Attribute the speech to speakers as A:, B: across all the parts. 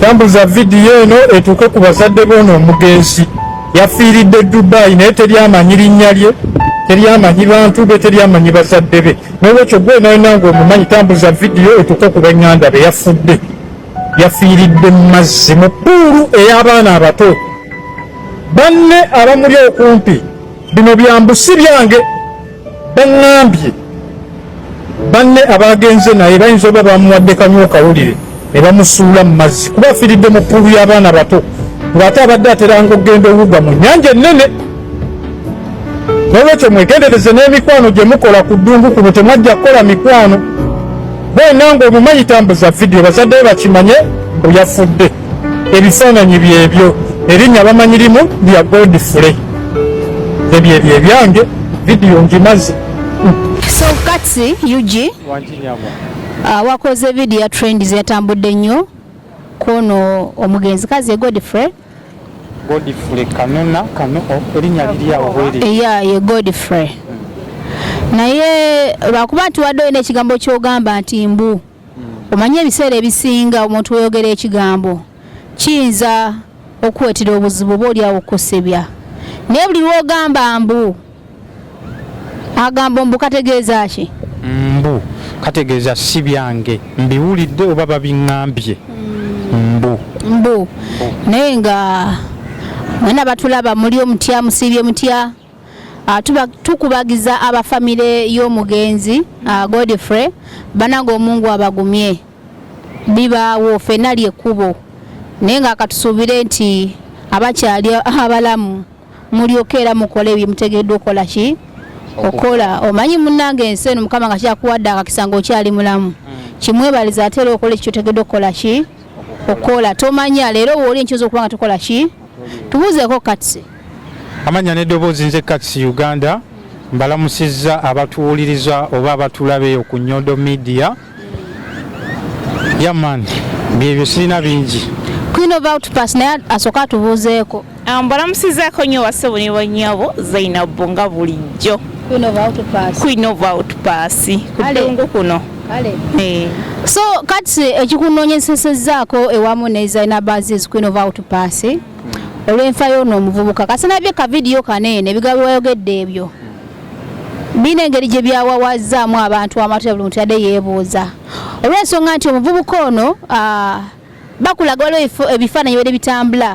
A: tambuza vidiyo eno etuuke ku bazadde boona omugenzi yafiiridde dubai naye teri amanyi linnya lye teri amanyi bantu be teri amanyi bazadde be nolwekyo gwe nayenanga omumanyi tambuza vidiyo etuuke ku benganda be yafudde yafiiridde mu mazzi mu puulu ey'abaana abato banne abamuli okumpi bino byambu si byange baŋŋambye banne abaagenze naye bayinza oba bamuwadde kanywa okawulire ne bamusuula mu mazzi kuba afiiridde mu ppuulu y'abaana bato ng'ate abadde ateranga okugenda owuga mu nnyanja ennene nolwekyo mwegendereze n'emikwano gye mukola ku ddungu kuno temwajja kukola mikwano bwena ng'omumanyi tambuza vidiyo bazaddeyo bakimanye mbu yafudde ebifaananyi byebyo erinnya bamanyi limu lya godfrey ebyo ebyo ebyange vidiyo ngimaze so
B: kati ug ah, wakoze vidiyo ya trend zeyatambudde nnyo kwono omugenzi kazi godfrey godfrey kanona
A: kano erinnya liryawo bweri eya ye godfrey
B: naye lwakuba nti wadde olina ekigambo kyogamba nti mbu Omanyi ebiseera ebisinga omuntu weyogera ekigambo kiyinza okukuweetera obuzibu oba olyawo okukosebya naye buli lwogamba mbu agambo mbu kategeeza ki mbu
A: kategeeza si byange mbiwulidde oba babiŋambye mbu
B: mbu naye nga mwena batulaba muli omutya musiibye mutya Ah, tukubagiza abafamire y'omugenzi ah, Godfrey banange omungu abagumye bibaawo fena lyekkubo naye nga akatusuubire nti abakyali abalamu mulyoka era mukole byemutegeddwa okukola ki okukola omanyi munange ensi eno mukama nga kyakuwadde akakisa nga okyali mulamu hmm. kimwebaliza ate era okola ekikyotegeddwa okukola ki okukola tomanya leero wooli enkyoza okuba nga tukola ki tubuuzeeko katsi Amanya ne
A: dobozi nze Kats Uganda mbalamusiza abatuwuliriza oba abatulabe ku Nyodo Media. Yaman byebyo sirina bingi. Queen of Outpass
B: naye asoka atubuuzeeko. Ah, mbalamusizaako
C: nyo basebo ne banyabo Zainab nga bulijjo. Queen of Outpass. Queen of Outpass. Kudungu kuno. Kale. Eh.
B: So kati ekikunoonyesesezaako ewamu ne Zainab Aziz Queen of Outpass. olw'enfa y'ono omuvubuka kasinabye ka vidiyo kaneene ebigambo wayogedde ebyo biina engeri gye byawawazzaamu abantu amatu ya buli muntu yadde yeebuuza olw'ensonga nti omuvubuka ono bakulaga waliwo ebifaananyi bere bitambula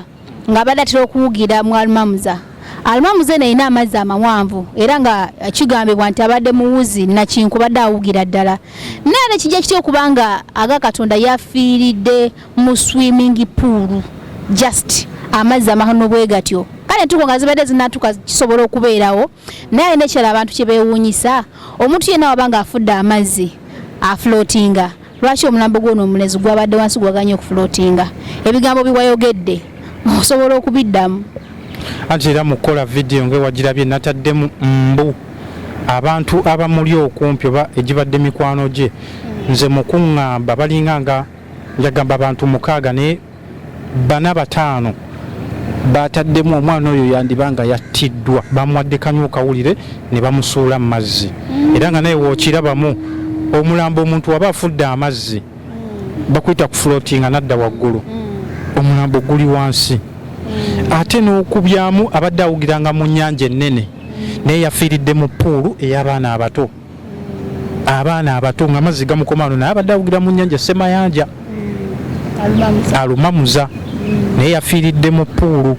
B: nga abadde atera okuwugira mu almamuza almamuza eno erina amazzi amawanvu era nga kigambibwa nti abadde muwuzi nakinku badde awugira ddala naye nekijja kitya okuba nga aga katonda yafiiridde mu swimming pool just amazzi amahano bwegatyo kale entuko nga zibadde zinatuka kisobola okubeerawo naye alina ekirala abantu kye beewuunyisa omuntu yenna waba nga afudde amazzi aflotinga lwaki omulambo gwono omulezi gwabadde wansi gwaganye okuflotinga ebigambo biwayogedde osobola okubiddamu anti era
A: mukukola vidiyo ngewagirabye nataddemu mbu abantu abamuli okumpi oba egibadde mikwano gye nze mukuŋŋamba balinga nga Yagamba abantu mukaaga naye bana bataano baataddemu omwana oyo yandiba nga yattiddwa, bamuwadde kanywa okawulire ne bamusuula mu mazzi mm. era nga naye wookirabamu omulambo omuntu waba afudde amazzi mm. bakuyita ku flotinga nadda waggulu mm. omulambo guli wansi ate n'okubyamu abadde awugiranga mu nnyanja ennene naye yafiiridde mu puulu ey'abaana abato. abaana abato nga amazzi gamukomano naye abadde awugira mu nyanja semayanja mm. alumamuza mm. naye yafiiridde mu puulu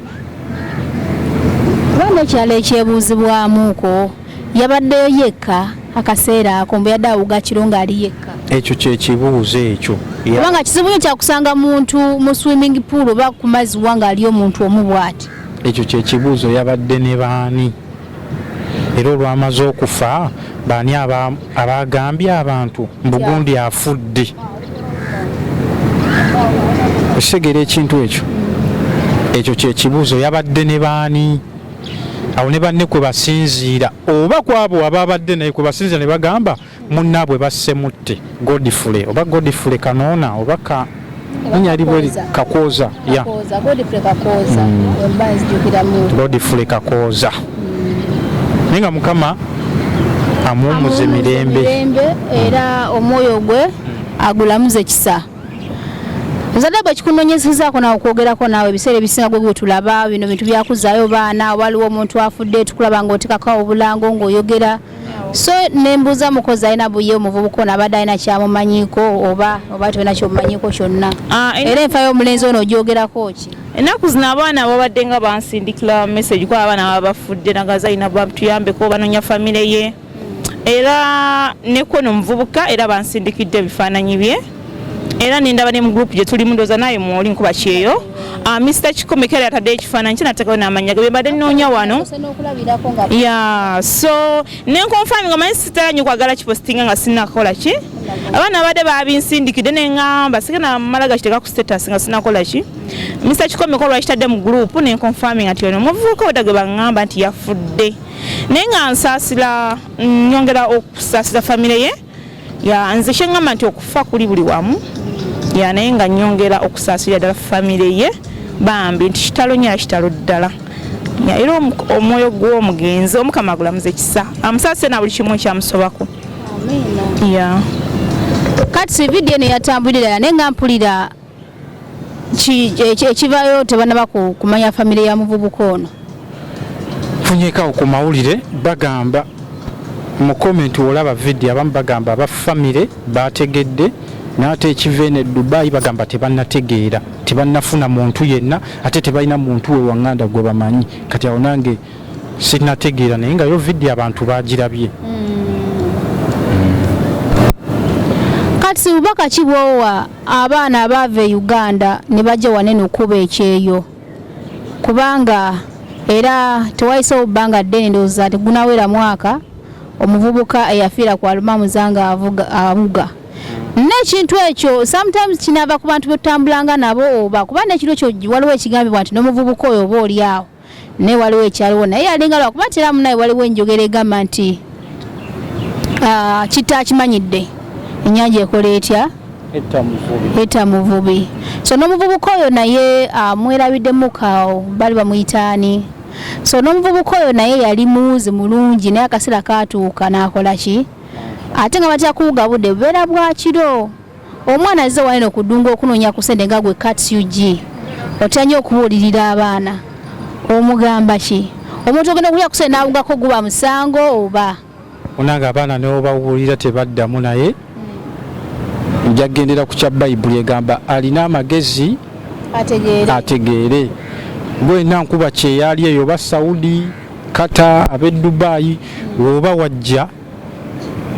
B: kubanga ekyalo ekyebuuzibwamuko yabaddeyo yekka akaseera ako mbu yadde awuga kiro ng'ali yekka ekyo kyekibuuzo
A: ekyo kubanga kizibu nyo
B: kyakusanga muntu mu swimming pool oba ku mazzi wa ng'ali omuntu omu bwati ekyo kyekibuuzo
A: yabadde ne baani era olwamaze okufa baani abaagambye abantu mbugundi afudde okitegera ekintu ekyo ekyo kyekibuuzo yabadde ne baani awo ne banne kwe basinziira oba kwabo ababadde naye kwe basinziira ne bagamba Munnaabwe basse mutte Godfrey oba Godfrey Kanoona oba ka linya libwe Kakooza ya Godfrey Kakooza hmm. naye nga Mukama amuwumuze mirembe
B: era omwoyo gwe agulamuze kisa nzadde bwe kikunonyezezaako nawe okwogerako naawe ebiseera ebisinga gwe gwetulaba bino bintu byakuzaayo baana waliwo omuntu afudde tukulaba ngaotekako obulango ngaoyogera so nembuuza mukozi alina buye omuvubuka ono abadde alina kyamumanyiko oba oba tolina kyomumanyiko kyonna ah, era enfa y'omulenzi ono ogyogerako ki ennaku zino abaana
C: babadde nga bansindikira message kuba abaana baba bafudde nagaza alina batuyambeko banonya famire ye era nekono omuvubuka era bansindikidde ebifaananyi bye era nendaba ne mu group gye tulimu ndoza naye mwoli nkuba kyeyo ah, Mr Kikome kale atadde ekifaananyi kye nateekawo n'amannya ge mbadde nnoonya wano ya so ne nkonfaminga manyi sitala nyo kwagala kipositinga nga sinakola ki abaana abadde babinsindikidde ne ngamba sike namala gakiteeka ku status nga sinakola ki Mr Kikome ko lwakitadde mu group ne nkonfaminga nti ono omuvubuka obadde gwe bangamba nti yafudde naye nga nsaasira nnyongera okusaasira famire ye ya nze kyengamba nti okufa kuli buli wamu ya naye nga nyongera okusaasirira ddala famire ye bambi nti kitalo nyo era kitalo ddala era omwoyo gw'omugenzi omukama agulamuza ekisa amusaasire na buli kimu ekyamusobako ya
B: kati vidiyo eno yatambulira naye nga mpulira ekivayo tebanaba kumanya famire ya muvubuka ono
A: funyekawo ku mawulire bagamba mu komenti olaba vidiyo abamu bagamba aba famire bategedde naate ekiva eno edubayi bagamba tebanategeera tebanafuna muntu yenna ate tebalina muntu we wanganda gwe bamanyi kati awo nange sinategeera naye nga yo vidiyo abantu bagirabye
B: kati bubaka ki bwowa abaana abaava e uganda ne bajja wanene okukuba ekyeyo kubanga era tewayisewo bbanga ddene ndowooza tegunawera mwaka omuvubuka eyafiira ku aluma muzanga avuga abuga n'ekintu ekyo sometimes kinava ku bantu betutambulanga nabo oba kuba nekiro kyo waliwo ekigambibwa nti n'omuvubuka oyo oba oli awo naye waliwo ekyaliwo naye yalinga lwakuba tera munaye waliwo enjogera egamba nti ah, kitta akimanyidde enyanja ekola etya eta muvubi so n'omuvubuka oyo naye ah, mwerabiddemukaawo bali bamuyitaani so n'omuvubuka oyo naye yali muuzi mulungi naye akaseera kaatuuka n'akola ki ate nga batya kuwuga budde bubeera bwakiro Omwana azze wano eno ku ddungu okunoonya ku sente nga gwe kats ug otya nnyo okubuulirira abaana omugamba ki omuntu ogenda okulya ku sente n'awugako guba musango oba onanga abaana
A: neobawulira tebaddamu naye nja kugendera ku kya bayibuli egamba alina amagezi ategeere gwena nkuba kyeyali eyo oba saudi kata ab'e dubayi woba wajja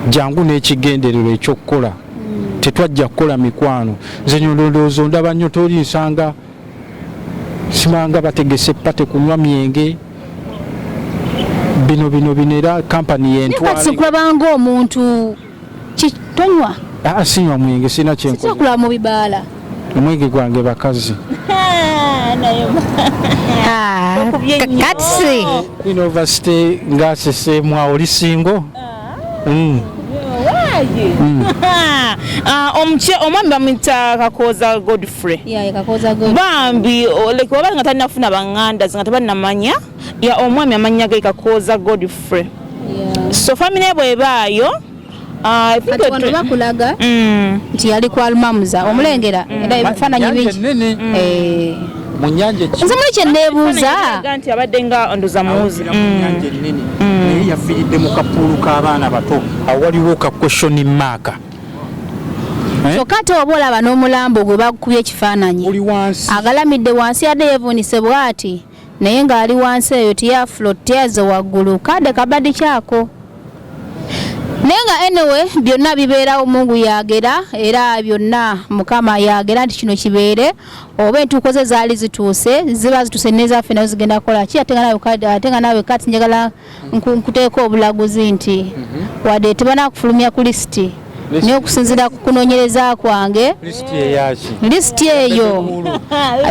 A: jangu n'ekigendererwa ekyokukola mm. tetwajja kukola mikwano nze nyolondoozo ndaba nnyo toli nsanga simanga bategese pate kunywa myenge bino bino bino era kampani yentwalakulabanga omuntu
B: tonywa ah, sinywa
A: mwenge sirina kyenkola mu bibaala
B: omwege gwange
A: bakazi
B: katsi university
A: ngasesemwa oli singo ah.
C: mm. mm. ah, omwami bamwita kakoza godfrey bambi wabali nga talinafuna banganda zinga tebalinamanya omwami amanya ge kakoza godfrey so famile bwebaayo Ah,
B: kati wano bakulaga mm. nti yali kwa almamuza omulengera mm. era ebifaananyi bingi mm. eh. munyanja nze muli kyeneebuuza nti abadde
C: nga ndoza muwuzi munyanja ennene
A: naye yafiiridde mu kapuulu k'abaana bato awaliwo ka question mark Eh?
B: kyokka ate oba olaba n'omulambo gwe bakukubye ekifaananyi agalamidde wansi yadde yevuunise bw'ati naye nga ali wansi eyo tiyaflo tiyaze waggulu kade kabadi kyako naye nga anyway byonna bibeerawo mungu yagera era byonna mukama yagera nti kino kibeere oba entuuko ze zaali zituuse ziba zituuse nezaffe nazo zigenda kukola ki ate nga nawe kati njagala nkuteeka obulaguzi nti mhm. wadde tebanakufulumya ku lisiti naye okusinzira ku kunonyereza kwange lisiti eyo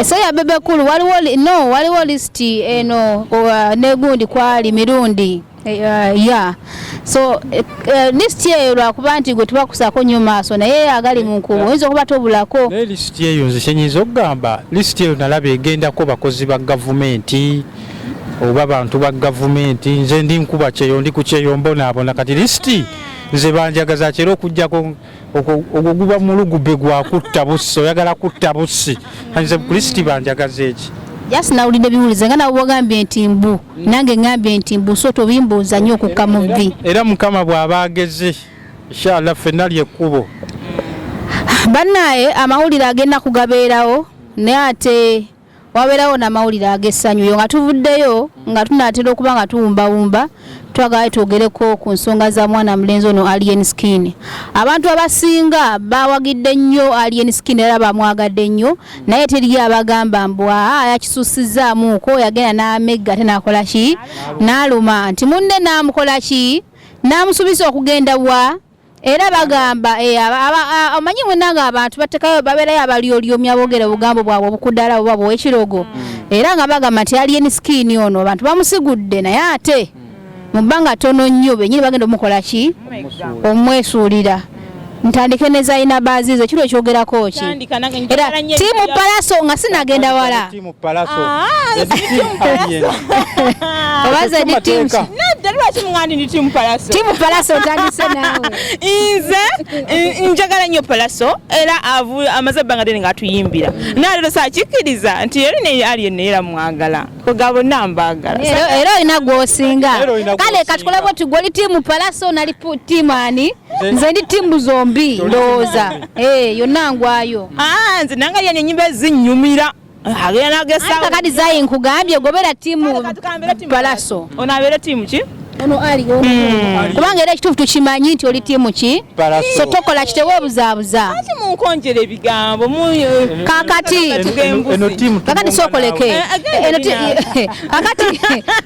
B: so ya bebe kulu waliwo no waliwo lisiti eno negundi kwali mirundi eh, eh, ya so eh, lisiti eyo lwakuba nti gwe tubakusako nyo maaso naye agali munkubu oyinza okuba tobulako naye lisiti eyo nze
A: kyenyiza okugamba lisiti eyo nalaba egendako bakozi ba gavumenti oba bantu ba gavumenti nze ndi nkuba kyeyo ndi ku kyeyo mbonaabona kati lisiti nze banjagaza kyera okujjako ogwo guba mulugube gwa kutta bussi oyagala kutta bussi nze kulisiti banjagaza eki just nawulidde
B: biwulize nga nawe ogambye nti mbu nange ngambye nti mbu so tobimbuuza nnyo okukka mu vi era mukama bw'aba
A: ageze inshallah ffenna lyekkubo bannaye
B: amawulire agenda kugabeerawo naye ate wabeerawo n'amawulire ag'essanyu yo nga tuvuddeyo nga tunaatera okuba nga tuwumbawumba twagala twogereko ku nsonga za mwana mulenzi ono alien skin abantu abasinga bawagidde nnyo alien skin era bamwagadde nnyo naye teriyo abagamba mbwa ah, yakisusizamuuko yagenda n'amegga ate nakola ki n'aluma nti munne n'amukola ki n'amusuubiza okugenda wa era bagamba eh, omanyi munange abantu batekayo baberayo abalyolyomya bogera obugambo bwabwe obukudala oba bwekirogo mm. era nga bagamba nti alien skin ono abantu bamusigudde naye ate mm. mu bbanga tono nnyo benyini bagenda omukola ki oh omwesuulira ntandike nezalina baziizo kiro kyogerako ki era tiimu palaso nga sinagenda wala mu palaso ah, oba zedi timu nedda lwaki mugandi ndi timu palaso timu palaso otandise naawe nze
C: njagala nnyo palaso era amaze ebbanga dene nga atuyimbira naye lero sakikkiriza nti eri naye ali yenna era mwagala kwega bonna mbaagala era olina
B: gwosinga kale katukoleko tigwoli timu palaso nali timu ani nze ndi tiimu zombi ndowooza eh, yonna ngwayo ah, nze nanga yani
C: enyimba ezinyumira agenda
B: zayi nkugambye gobera tiimu palaso ono abeera tiimu
C: ki ono ali hmm.
B: kubanga era ekituufu tukimanyi nti oli tiimu ki so tokola kitewebuzaabuza munkonjera
C: ebigambo eh, kakati
B: kakati sokoleke eh, kakati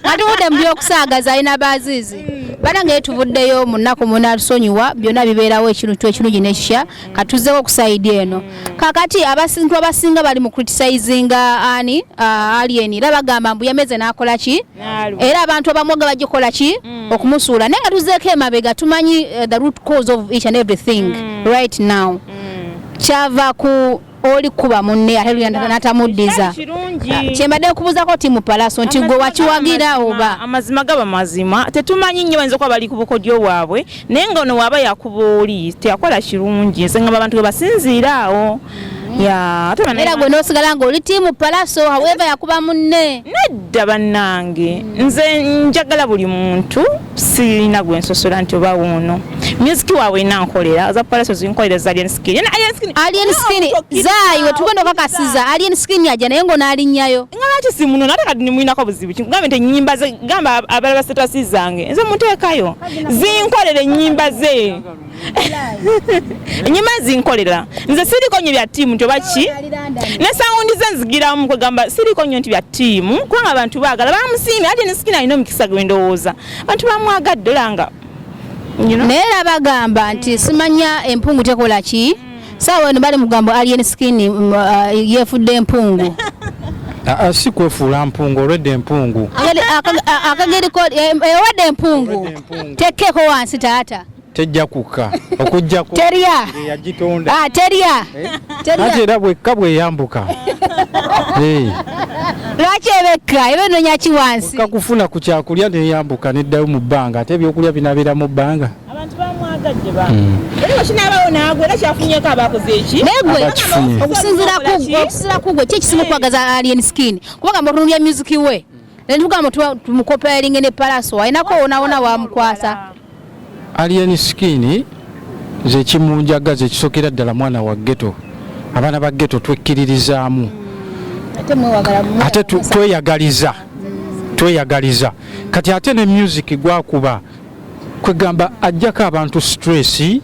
B: atuwudde mu byokusaagaza alina baaziizi banange ye tuvuddeyo mu nnaku munatusonyiwa byonna bibeerawo ekintu ekirungi nekikya katuzzewo okusaidi eno kakati abasintu abasinga bali mu criticizinga ani uh, alien era bagamba mbu yameze nakola ki era abantu abamwaga bagikola ki mm. okumusuula naye nga tuzzeeko emabega tumanyi uh, the root cause of each and everything mm. right now mm. kyava ku oli kuba munne ate luyanda natamuddiza kyembadde nkubuuzako ti mupalaso nti gwe wakiwagira oba amazima gaba mazima
C: tetumanyi nnyo bayinza okuba bali ku bukodyo bwabwe naye nga ono waaba yakuba oli teyakola kirungi nze ngamba abantu gebasinziira awo
B: era gwe nosigala nga oli tiimu palaso haweva yakuba munne nedda
C: bannange nze njagala buli muntu sirina gwe nsosola nti oba wuuno myuziki waabwe ina nkolera za palaso zinkolera za alien skin yena alien skin alien skin zaayi we tugenda okakasiza alien skin yaja naye ng'onaalinyayo nga lwaki simuno
B: nate kati
C: nimulinako buzibu ki ngambe nti ennyimba ze gamba abalala basitasi zange nze muteekayo zinkolera ennyimba ze enyuma zinkolera nze siriko nyo bya tiimu nti oba ki ne sawundi ze nzigiramu kwegamba siriko nyo nti bya tiimu kubanga abantu baagala bamusiimi ate ne sikina alina omukisa gwe ndowooza abantu bamwagadde olanga naye
B: era bagamba nti simanya empungu tekola ki saawa eno bali mugambo alien skin mm, uh, yefudde empungu ah, ah,
A: si kwefuula mpungu olwedde empungu akageriko
B: eh, eh, ewedde empungu tekkeeko wansi taata tejja kukka
A: okujjako terya
B: yagitonda ah
A: terya eh?
B: terya ate era
A: bwekka bweyambuka eh.
B: lwaki ebekka ebe nonya ki wansi okka kufuna ku kyakulya
A: neyambuka neddayo mu bbanga ate ebyokulya binabeera mu bbanga abantu bamwagadde
C: ba hmm. era okinaabawo naagwe era kyafunyeko abakoze eki negwe
B: okusinzira kugwe okusinzira kugwe ki ekisinga okwagaza alien skin kubanga mu runu ya music we Nentugamu tumukopelinge ne palaso ainako onaona wamukwasa alien
A: skin zekimunjaga zekisokera ddala mwana wa geto abaana ba geto twekkiririzaamu ate tweyagaliza tweyagaliza kati ate ne music gwakuba kwegamba ajjako abantu stress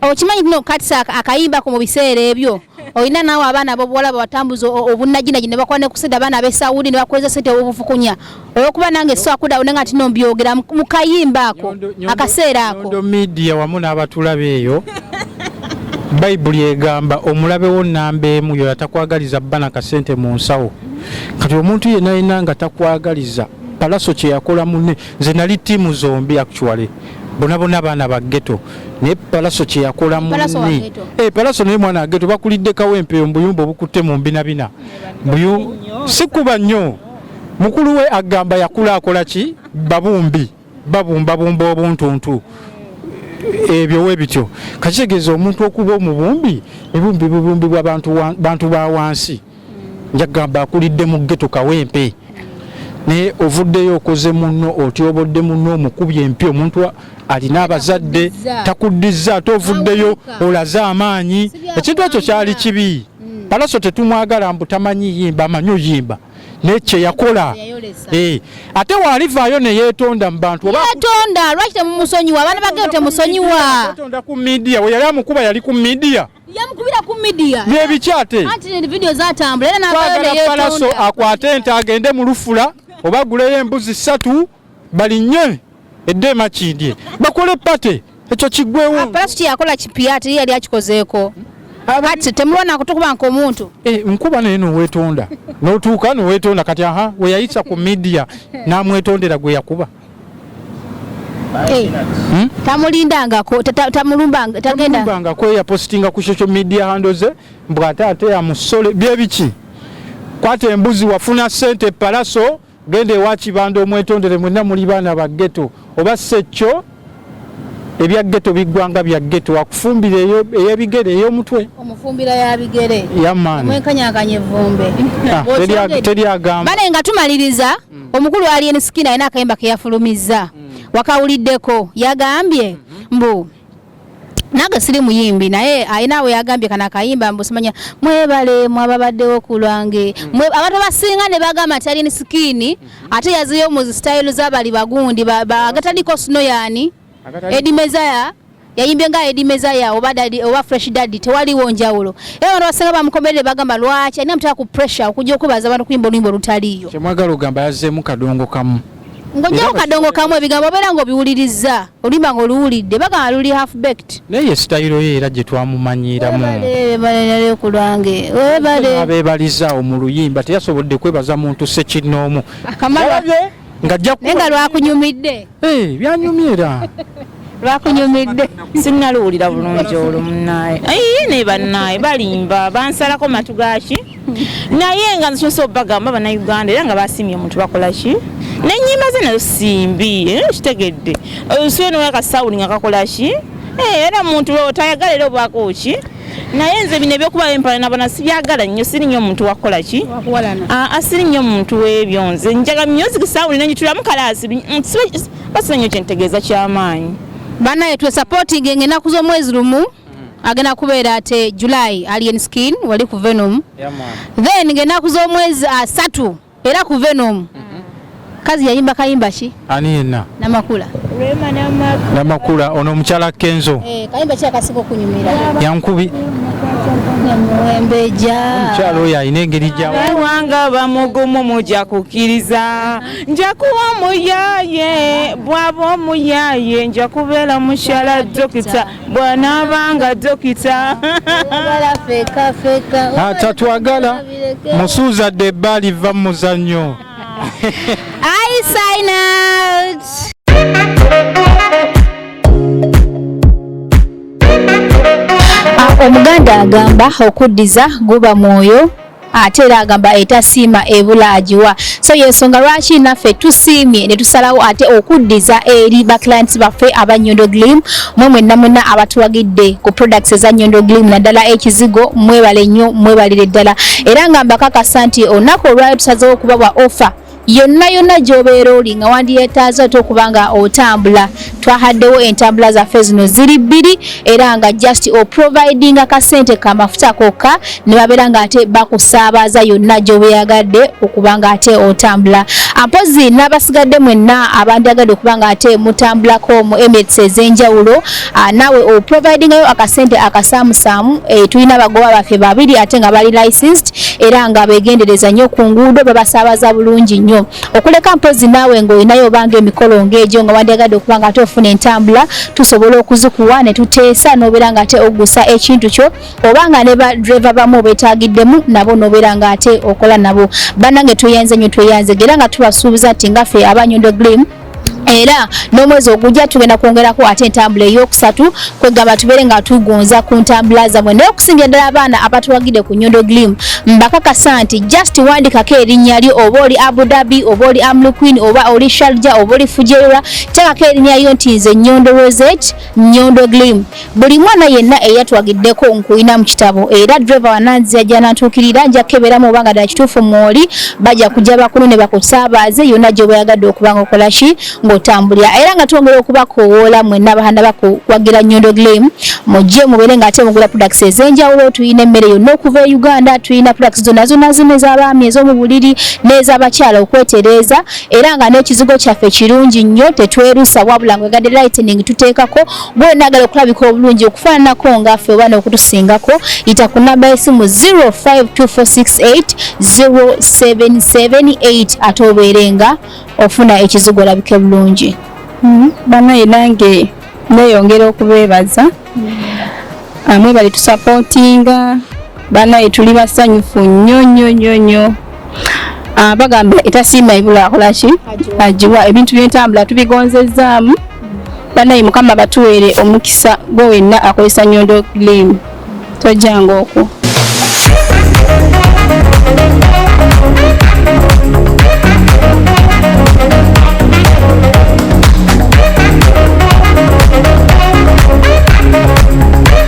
A: Okimanyi kuno katisa akayimbako mu biseera ebyo olina naawe abaana bobuwala babatambuza obunnajinagi ne bakola ne kusida abaana ab'e Saudi ne bakweza sente obufukunya olwokuba nange swakuda one nga tino mbyogera mu kayimba ako akaseera ako nyondo media wamu n'abatulabe eyo bayibuli egamba omulabe wo nnamba emu yoyo atakwagaliza bba na kasente mu nsawo kati omuntu yenna yenna nga takwagaliza palaso kye yakola munne nze nali ttiimu zombi actually bonabona abaana ba ghetto naye palaso kyeyakola mune eh, palaso naye mwana ageto bakulidde kawempeyo mubuyumba obukutte mu mbinabina sikuba nnyo mukulu we agamba yakula akola ki babumbi babumbabumba obuntuntu ebyo we bityo kakitegeeza omuntu okuba omubumbi ebumbi bubumbi bwa bantu ba wansi njagamba akulidde mu geto kawempe naye ovuddeyo okoze munno otyobodde munno omukubye empi omuntu alina abazadde takuddiza ate ovuddeyo olaze amaanyi ekintu ekyo kyali kibi mm. palaso tetumwagala mbu tamanyi yimba amanyi oyimba naye kyeyakola eh, ate waalivaayo neyetonda mubantuyetonda lwaki
B: temumusonyiwa abaana bageo temusonyiwa ku midiya
A: weyali amukuba yali ku midiya yamukubira ku
B: midiya nebikyate twagala palaso akwate
A: ente agende mu lufula oba guleyo embuzi ssatu balinye edde emakindye bakole pate ekyo kigwewo palaso kyeyakola kipiya
B: teri yali akikozeeko kati temubona kutukuba nkomuntu eh, nkuba naye
A: nowetonda notuuka nowetonda kati aha weyayisa ku midiya namwetondera gweyakuba Hey. Eh.
B: Hmm? tamulindangako tamulumbanga
A: tagenda kweya postinga ku social media handle ze mbu ate ate ya musole bye biki kwata embuzi wafuna sente palaso genda ewa kibanda omwetondere mwenna muli baana ba ghetto oba sekyo ebya ghetto bigwanga bya ghetto akufumbira eyo eyabigere eyo mutwe omufumbira ya
B: bigere ya man mwe kanyakanye
A: vumbe
B: ah, teri teri
A: agamba bale nga
B: tumaliriza mm. omukulu ali en skin ayina akayimba ke yafulumiza mm. wakawulideko yagambye mm -hmm. mbu nange siri muyimbi naye ayina we yagambye kana akayimba mbu simanya mwebale mwababaddewo ku lwange mm. abantu abasinga ne bagamba nti ali en skin mm. ate yazeyo mu style za bali bagundi agatandiko sino yani Edi Mezaya yayimbye nga Edi Mezaya oba dadi oba Fresh Daddy tewaliwo njawulo era abantu basinga bamukomerere bagamba lwaki alina mutaka ku pressure okujja okubaza abantu kuyimba oluyimba olutaliyo kyemwagala ogamba yazeemu
A: kadongo kamu ng'ojjawo kadongo
B: kamu ebigambo obeera ng'obiwulirizza oluyimba nga oluwulidde bagamba luli half baked naye ye sitayiro ye
A: era gye twamumanyiiramu ebalere
B: ku lwange webale abeebalizaawo
A: mu luyimba teyasobodde kwebaza muntu sekinnoomu kamalabye
B: nga ajja naye nga lwakunyumidde eh, byanyumye
A: era lwakunyumidde
C: sinnaluwulira bulungi olwo munaaye ayi naye banaaye balimba bansalako matu gaki naye nga nzisomesa obagamba banauganda era nga basiimye omuntu bakolaki nenyimba ze nazo simbi eh, kitegedde osiwe nowakasawuli nga kakolaki eh, era muntu tayagala era obaako ki naye nze bino ebyokuba empala nabona sibyagala nnyo siri nnyo omuntu wakukolaki ah, ah, siri nnyo omuntu webyo nze njaga music sawuli nenyitulamu kalaasi mm, basiba nnyo kyentegeeza kyamaanyi banaye
B: twesapotinga engenaku z'omwezi lumu agenda kubeera ate July Alien Skin wali ku Venom yeah, then ng'ennaku z'omwezi asatu uh, era ku Venom mm -hmm. kazi yayimba kayimba ki ani yenna
A: namakula Rema namakula namakula ono omukyala Kenzo eh kayimba ki akasiko
B: kunyumira yankubi
A: omukyala oyo alina engeri gyawanga
C: bamugumu muja kukkiriza nja kuwa omuyaye bwaba omuyaye nja kubeera mukyala dokita bwanaabanga dokita
A: ah, tatwagala musuuza dde ebbaali vva mu muzannyo
B: ah, omuganda agamba okuddiza guba mwoyo ate era agamba etasiima ebula agiwa so yensonga lwaki naffe tusiimye ne tusalawo ate okuddiza eri ba clients baffe aba nyondo glim mwe mwenna mwenna abatuwagidde ku products eza nyondo glim naddala ekizigo mwebale nnyo mwebalire ddala era nga mbakakasa nti olunaku olwayo tusazewo okubawa offer yonna yonna gyobeera oli nga wandiyetaaza ate okuba nga otambula twahaddewo entambula zaffe zino ziri bbiri era nga just oprovidinga kasente kamafuta kokka ne babeera nga ate bakusaabaza yonna gyobeyagadde okuba nga ate otambula ampozi n'abasigadde mwenna abandyagadde okuba nga ate mutambulako mu emirates ez'enjawulo Ah, nawe o providingayo akasente akasaamusaamu eh, tulina abagoba baffe babiri ate nga bali licensed era nga begendereza nnyo ku nguudo babasaabaza bulungi nnyo okuleka mpozi naawe ng'olinayo obanga emikolo ng'egyo nga wandyagadde okuba nga ate ofuna entambula tusobola okuzikuwa ne tuteesa n'obeera nga ate ogusa ekintu kyo oba nga ne badreva bamu obetaagiddemu nabo n'obeera nga ate okola nabo bannange tweyanze nnyo tweyanze era nga tubasuubiza nti nga ffe abanyondo glim era n'omwezi ogujja tugenda kwongerako ate entambula eyokusatu kwegamba tubeere nga tugonza ku ntambula zamwe naye okusingira ddala abaana abatuwagide ku nyondo glim mbakakasa nti just wandikako erinnya lyo oba oli abu dhabi oba oli amlu queen oba oli sharja oba oli fujeira tekako erinnya lyo nti nze nyondo roset nyondo glim Buli mwana yenna eyatwagiddeko nkuyina mu kitabo era driver wananzia gyanantuukirira nja kukeberamu oba nga ddala kituufu mwoli baja kujja bakulu ne bakusaabaze yonna gyoba oyagadde okuba nga okola ki ng'otambulira era nga twongera okubakowoola mwenna abahanda bakuwagira nyondo glim mujje mubeere nga ate mugula products ez'enjawulo tulina emmere yonna okuva e uganda tulina products zonna zonna zino ez'abaami ez'omu buliri n'ez'abakyala okwetereeza era nga n'ekizigo kyaffe kirungi nnyo tetwerusa wabula ngwegadde lightening tuteekako Gwe nagala okulabika obulungi okufaananako nga ffe oba n'okutusingako yita ku namba y'essimu 0524680778 ate obeere nga ofuna ekizigo olabike bulungi hmm, banaye
D: nange neeyongera okubeebaza hmm. amwe bali tusapootinga banaye tuli basanyufu nnyo nnyo nnyo nnyo ah, bagamba etasiima ebula akolaki agiwa ebintu byentambula tubigonzezzaamu banaye mukama batuweere omukisa gwe wenna akozesa nyondo glimu tojjanga okwo